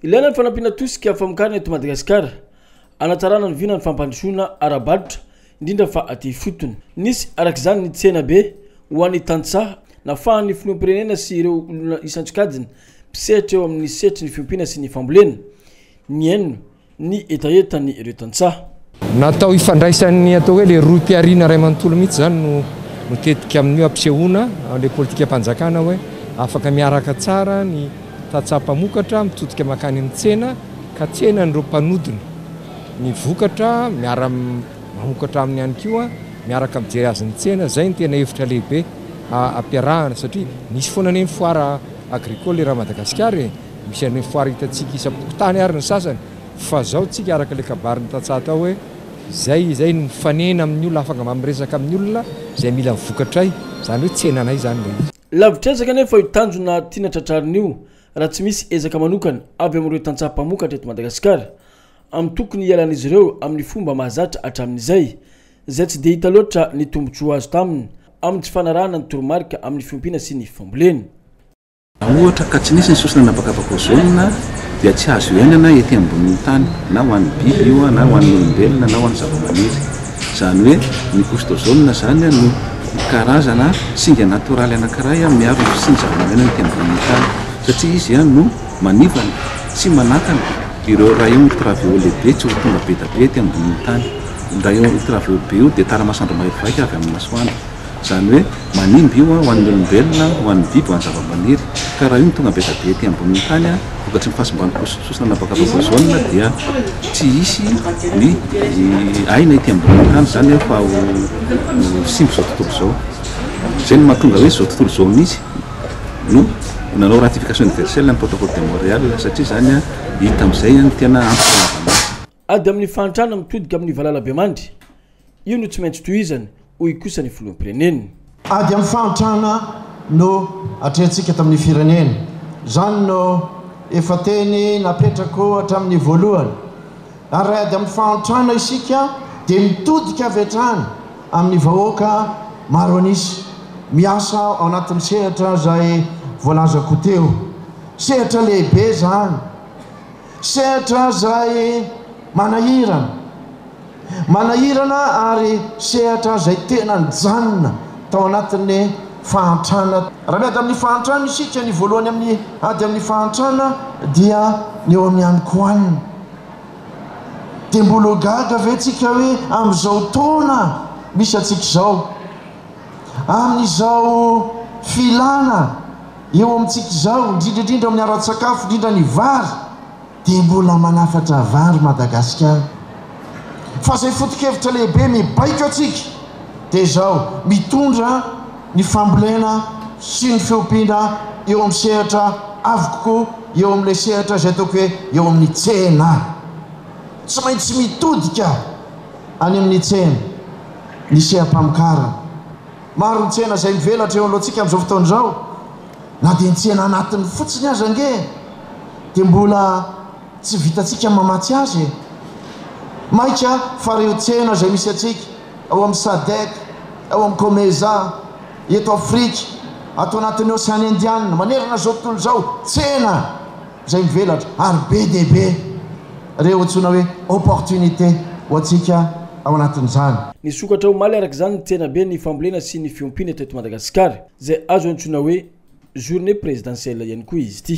Ilaina ny fanampiana tosika famokarana eto Madagasikara, hanatsarana ny vina ny fampandrosoana ara-barotra, indrindra fa aty ifotony. Nisy araka izany ny tsena be ho an'ny tantsaha nafahan'ny filoham-pirenena sy ireo olona isan-tsokajiny mpisehatra eo amin'ny sehatry ny fiompiana sy ny fambolena, nihaino ny hetahetan'ireo tantsaha. Natao hifandraisan'ny atao hoe ilay rohim-pihariana iray manontolo mihitsy izany no no tetika amin'io hampisehoana ilay politikam-panjakana hoe afaka miaraka tsara ny tantsaha mpamokatra mitodika mankany amin'ny tsena ka tsenan'ireo mpanodina ny vokatra miara mamokatra aminy ihany koa miaraka mijery azy ny tsena. Izay ny tena hevitra lehibe ampiarahana satria misy foana anie ny foire agricole eran'i Madagasikara e! Misy an'ireny foire hitantsika isam-pokontany ary ny sasany. Fa zao tsika araka ilay kabary nitantsaha tao hoe izay izay no mifanena amin'ny olona afaka mba miresaka amin'ny olona izay mila ny vokatray izany hoe tsenanay izany ilay izy. Lavitr'ezaka anefa io tanjona tiana tratrarina io raha tsy misy ezaka manokana avy amin'ireo tantsaha mpamokatra eto Madagasikara amin'ny tokony hialan'izy ireo amin'ny fomba mahazatra hatramin'izay izay tsy dia hita loatra ny tombotsoa azo taminy amin'ny tsy fanarahana ny toromarika amin'ny fiompiana sy ny fambolena. Raha ohatra ka tsy nisy ny sosona an'habakabaka ozonina dia tsy azo iainana ety ambonin'ny tany, na ho an'ny biby io na ho an'ny olombelona na ho an'ny zavamaniry. Izany hoe ny couche d'ozone izany no karazana singa natoraly anankiray miaro ny fisian'ny zava-maneno ety ambonin'ny tany satria izy no manivana sy manakana ireo rayons ultraviolets be tsy ho tonga be dia be ety ambonin'ny tany. Io rayon ultraviolets be io dia taramasandro maivaivaika avy amin'ny masoandro. Izany hoe, manimba io ho an'ny olombelona, ho an'ny biby, ho an'ny zavamaniry. Ka raha io no tonga be dia be ety ambonin'ny tany, vokatry ny fahasimban'ny posiposina na bakabaka ozona, dia tsy hisy ny aina ety ambonin'ny tany. Izany hoe efa ho simba izao tontolo izao. Izay no mahatonga hoe izao tontolo izao mihitsy no nanao ratification universelle ny protocole de Montreal, satria izany hita amin'izay ny tena antony nanaovana azy. Ady amin'ny fahantrana mitodika amin'ny valalabemandry. Io no tsy maintsy tohizany, hoy kosa ny filoham-pirenena. Ady amin'ny fahantrana no atrehintsika eto amin'ny firenena. Izany no efa teny napetrako hatramin'ny voalohany. Ary raha ady amin'ny fahantrana isika dia mitodika avy hatrany amin'ny vahoaka maro an'isa, miasa ao anatin'ny sehatra izay voalazako teo. Sehatra lehibe izany. Sehatra izay manahirana. Manahirana ary sehatra izay tena nijanona tao anatin'ny fahantrana. Raha miady amin'ny fahantrana isika, ny voalohany amin'ny ady amin'ny fahantrana dia ny eo amin'ny hanikohanina. Dia mbola ho gaga ve tsika hoe amin'izao taona misy antsika izao, amin'izao filana, Eo amintsika izao, indrindra indrindra amin'ny ara-tsakafo, indrindra ny vary, dia mbola manafatra vary Madagasikara. Fa izay foto-kevitra lehibe mibaiko antsika dia izao, mitondra ny fambolena sy ny fiompiana eo amin'ny sehatra avo kokoa, eo amin'ilay sehatra izay ataoko hoe eo amin'ny tsena. Tsy maintsy mitodika any amin'ny tsena ny seha-pamokarana. Maro ny tsena izay mivelatra eo alohantsika amin'izao fotoana izao, na dia ny tsena anatiny fotsiny aza ange dia mbola tsy vitantsika mamatsy azy e! Maika fa ireo tsena izay misy antsika ao amin'ny Sadec, ao amin'ny Comesa, eto Afrika, ato anatin'ny Oseana Indiana, manerana izao tontolo izao, tsena! izay mivelatra ary be dia be ireo antsoina hoe opportunité ho antsika ao anatin'izany. Nisokatra omaly araka izany ny tsenaben'ny fambolena sy ny fiompiana teto Madagasikara, izay azo antsoina hoe journée présidentielle ihany koa izy ity.